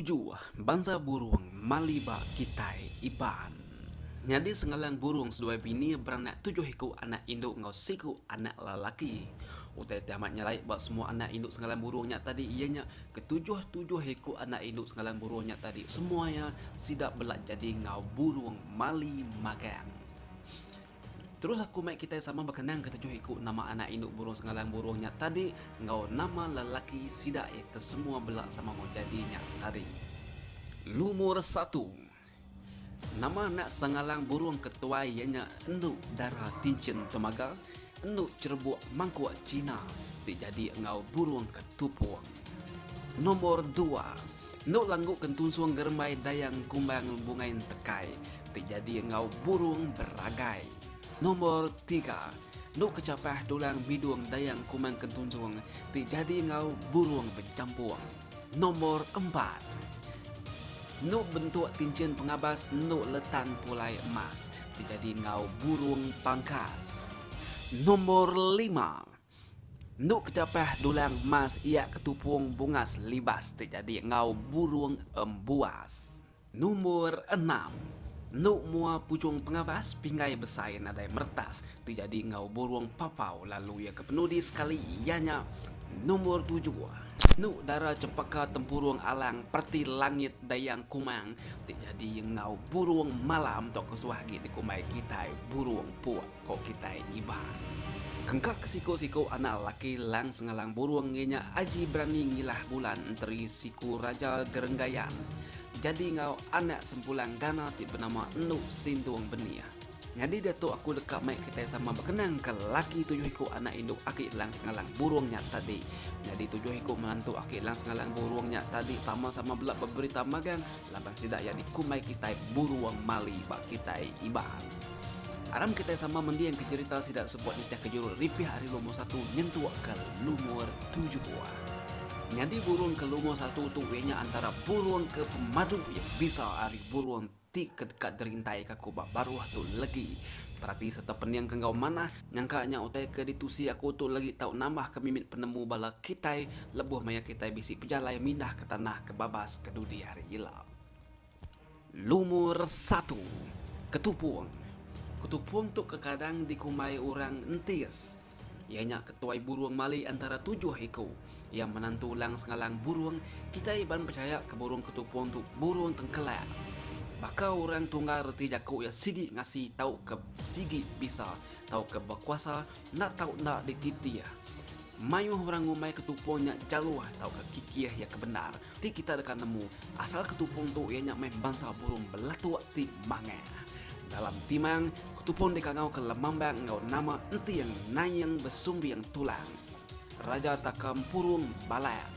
Tuju bansa burung mali ba kitai Iban. Nyadi sengalan burung seduai bini beranak tujuh iku anak indu enggau siku anak lelaki. Utai ti amat nyelai ba semua anak indu sengalan burung nya tadi iya nya ketujuh-tujuh iku anak indu sengalan burung nya tadi semua iya sida bela nyadi enggau burung mali magang. Terus aku mai kitai sama bekenang ketujuh iku nama anak indu burung sengalang burung nya tadi enggau nama lelaki sida iya ke semua bela sama meh jadi nya tadi. Lumur satu. Nama anak sengalang burung ke tuai iya nya endu dara tinchin temaga, endu cherebuk mangkuk china ti jadi enggau burung ke tupung. Nomor dua. Endo langgu kentunsung gerembai dayang kumbang bungai entekai ti jadi enggau burung beragai. Nombor tiga. Endo kechapah tulang bidung dayang kumbang kentunsung ti jadi enggau burung bejampung. Nombor empat. Endo bentuk tinchin pengabas endo letan pulai emas ti jadi enggau burung pangkas. Nombor lima. Endu kechapah dulang emas iya ketupung bungas libas ti jadi enggau burung embuas. Numbur enam. Endu mua puchung pengabas pinggai besai nadai meretas ti jadi enggau burung papau lalu iya ke penudi sekali iya nya numbur tujuh. Endu dara chempaka tempurung alang pereti langit dayang kumang ti jadi enggau burung malam tauka suah agi dikumbai kitai burung puk. ko kitai iba. Engka ke siku-siku anak lelaki Lang Sengalang Burung ngi nya aji berani ngilah bulan enteri siku Raja Gerenggayan jadi enggau anak sempulang Gana ti benama Endu Sindung Benih. Nyadi diatu aku deka mai kitai sama bekenang ke lelaki tujuh iku anak indu aki Lang Sengalang Burung nya tadi. Nyadi tujuh iku menantu aki Lang Sengalang Burung nya tadi sama-sama bela beberita magang Laban sida iya dikumbai kitai buruang mali ba kitai Iban. Aram kitai sama mendingka jerita sida sebut nitihka jurul ripih ari lumur satu nyentukka lumur tujuh buah. Nyadi burung ke lumur satu tu iya nya antara burung ke pemadu iya bisa ari burung ti ke deka derintai kaku ba baruh tu legi. Perati sereta peningka enggau manah. Nyangka nya utai ke ditusi aku tu lagi tau nambah ke mimit penemu bala kitai lebuh maya kitai bisi pejalai mindah ke tanah ke babas ke dudi hari ila. Lumur satu, Ketupong. Ketupong tu kekadang dikumbai orang entis. Iya nya ketuai burung mali antara tujuh iku. Iya menan tulang sengalang burung kitai ban pechaya ke burung ketupung tu burung tengkelak. Baka orang tunggal reti jaku iya sigi ngasi tauka sigi bisa tauka bekuasa enda tau enda dititih. Mayuh orang ngumbai ketupung nya jaluh tauka kikih iya ke bendar ti kitai deka nemu asal ketupung tu iya nya meh bansa burung belatuk ti mangang. Dalam timang, ketupung dikangauka lemambang enggau nama enting, naing, besumbing, tulang. Raja Taka Mpurung Balak.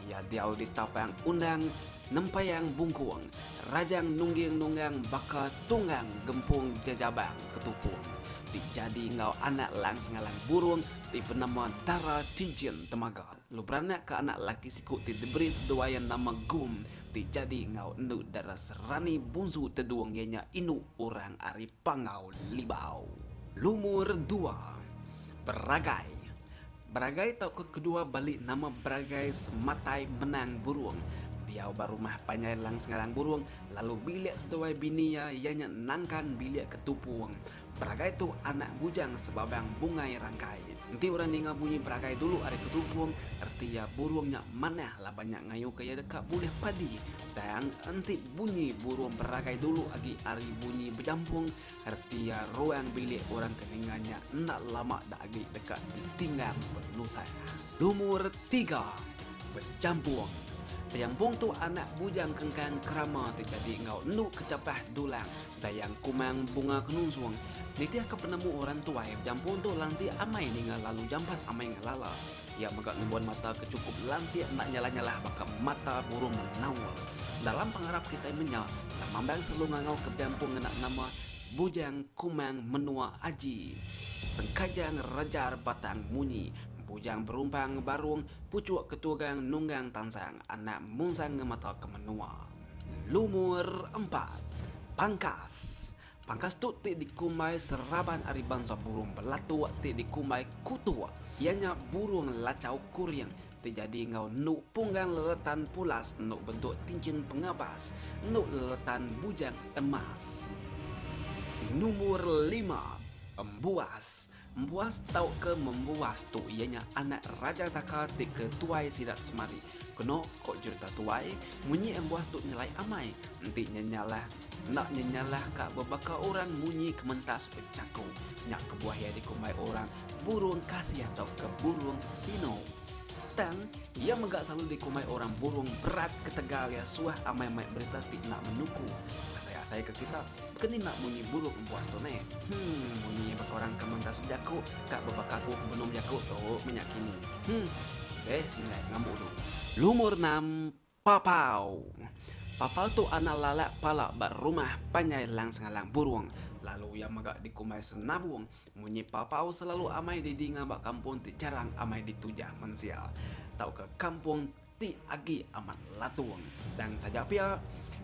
Iya diau di tapang undang Nempayang Bungkung, Rajang Nungging Nunggang baka Tunggang Gempung Jajabang Ketupung ti jadi enggau anak lang sengalang burung ti benama Dara Cincin Temaga lu beranak ka anak laki siku ti diberi seduai nama Gum ti jadi enggau endu Dara Serani Bunsu Tedung iya nya indu orang ari Panggau Libau, lumur dua, Beragai Beragai tauka kedua bali nama Beragai sematai menang burung. Diau ba rumah panjai Lang Sengalang Burung lalu bilik seduai bini iya iya nya nangkan bilik ke tupung. Beragai tu anak bujang sebabang Bungai Rangkai. Enti orang ninga bunyi Beragai dulu ari ke tupung reti iya burung nya manah laban nya ngayuka iya deka bulih padi. Tang enti bunyi burung beragai dulu agi ari bunyi bejampung, reti iya ruang bilik orang ke ninga nya enda lama da agi deka ditinggang penusah. Lumur tiga, Bejampung. Bejampung tu anak bujang kengkang kerama ti jadi enggau endu ke chapah dulang dayang kumang bunga ke nusung. Nitihka penemu orang tuai, bejampung tu lansik amai ninga lalu jampat amai ngelala. Iya mega ngembuan mata ke chukup lansik enda nyalah-nyalah baka mata burung menaul. Dalam pengarap kitai menya, tang mambang selalu ngangau ke bempu ngena nama Bujang Kumang Menua Aji. Sengkajang rejar batang munyi, bujang berumpang barung, puchuk ketugang nunggang tansang anak munsang ngemata ke menua. Lumur empat. Pangkas. Pangkas tu ti dikumbai seraban ari bansa burung belatu ti dikumbai kutu iya nya burung lachau kuring ti jadi enggau endu punggang leletan pulas endu bentuk tinchin pengabas endu leletan bujang emas. Nombor lima, Embuas. Embuas tauka Membuas tu iya nya anak Raja Taka ti ke tuai sida semadi. Keno ko jerita tuai, munyi embuas tu nyelai amai, enti nyenyalah enda nyenyalah ka bebaka orang munyi kementas bejaku. Nya kebuah iya dikumbai orang Burung Kasih tauka Burung Sino. Tang, iya mega selalu dikumbai orang Burung Berat ketegal iya suah amai mai berita ti enda menuku asai-asai ke kita. Keni enda munyi buruk empuas tu neh. Hum munyi baka orang ke menggas bejaku ka bebaka aku ke benung bejaku tu menya kini. Hum deh sindai ngambu ulu. Lumur enam, Papau. Papau tu anak lalak pala ba rumah panjai lang sengalang burung lalu iya mega dikumbai senabung. Munyi papau selalu amai di dinga ba kampung ti jarang amai ditujah mensia tauka kampung. ti agi amat latung. Tang taja pia,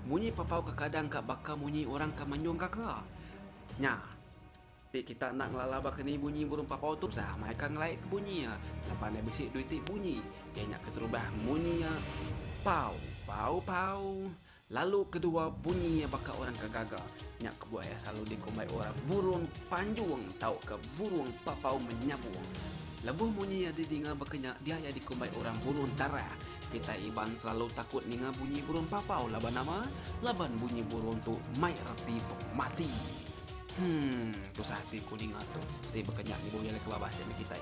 munyi papau kekadang ka baka munyi orang ke manyung gaga. Nya, ti kita enda ngelala baka ni bunyi burung papau tu usa meh ka ngelai ke bunyi iya laban iya bisi dua iti bunyi iya nya keserubah munyi iya pau pau pau. Lalu kedua bunyi iya baka orang ke gaga. Nya kebuah iya selalu dikumbai orang burung panjung tauka burung papau menyabung. Lebuh munyi iya didinga baka nya dia iya dikumbai orang burung tarah. Kitai Iban selalu takut ninga bunyi burung papau laban nama? Laban bunyi burung tu mai reti pemati. Hum, tusah ati ku ninga tu. Ti baka nya ngibu iya alai ke babah ti meh kitai.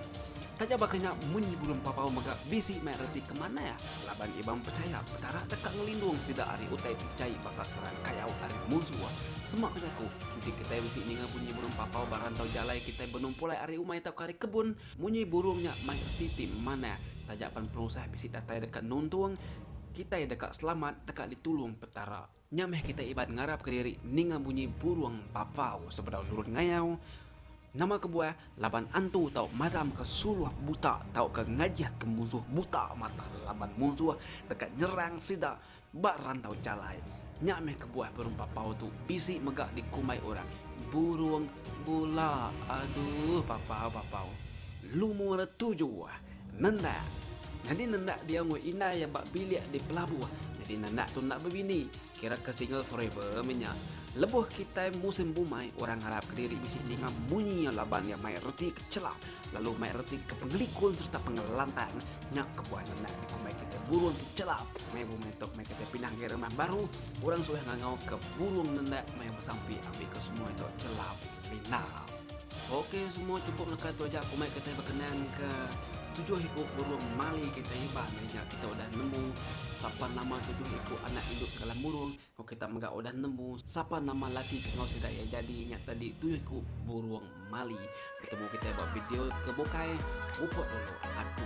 Taja baka nya munyi burung papau mega bisi mai reti ke manah laban Ibam pechaya Petara deka ngelindung sida ari utai ti jai baka serang kayau ari munsuh. Sema ke jaku, enti kitai bisi ninga bunyi burung papau ba rantau jalai kitai benumpul ai ari umai tauka ari kebun, munyi burung nya mai reti ti manah. Taja pan penusah bisi datai deka nuntung kitai deka selamat, deka ditulung Petara. Nya meh kitai Iban ngarapka diri ninga bunyi burung papau sebedau nurun ngayau. Nama kebuah laban antu tau madamka suluh buta tauka ngajihka munsuh buta mata laban munsuh deka nyerang sida ba rantau jalai. Nya meh kebuah burung papau tu bisi mega dikumbai orang burung bula. Aduh papau-papau. Lumur tujuh. Nenda. Nyadi nenda dia enggau indai iya ba bilik di pelabuh. Nyadi nenda tu enda bebini. Kira ke single forever meh nya. Lebuh kitai musim bumai, orang ngarap ke diri bisi ninga munyi iya laban iya mai reti ke chela lalu mai reti ke pengelikun sereta pengelantang. Nya kebuah nenda dikumbai kitai burung ke chela. Meh bumai tu meh kitai pindah ngagai rumah baru, orang suah ngangau ke burung nenda meh besampi ambika semua ito chela lindar. Ok semua cukup leka tu aja kumai kitai bekenan ke tujuh iku burung mali kitai iban nya aja kita udah nemu sapa nama tujuh iku anak indu segala burung ko kita mega udah nemu sapa nama laki ke enggau sida iya jadi nya tadi tujuh iku burung mali. Betemu kitai ba video ke bukai. Mupok dulu aku.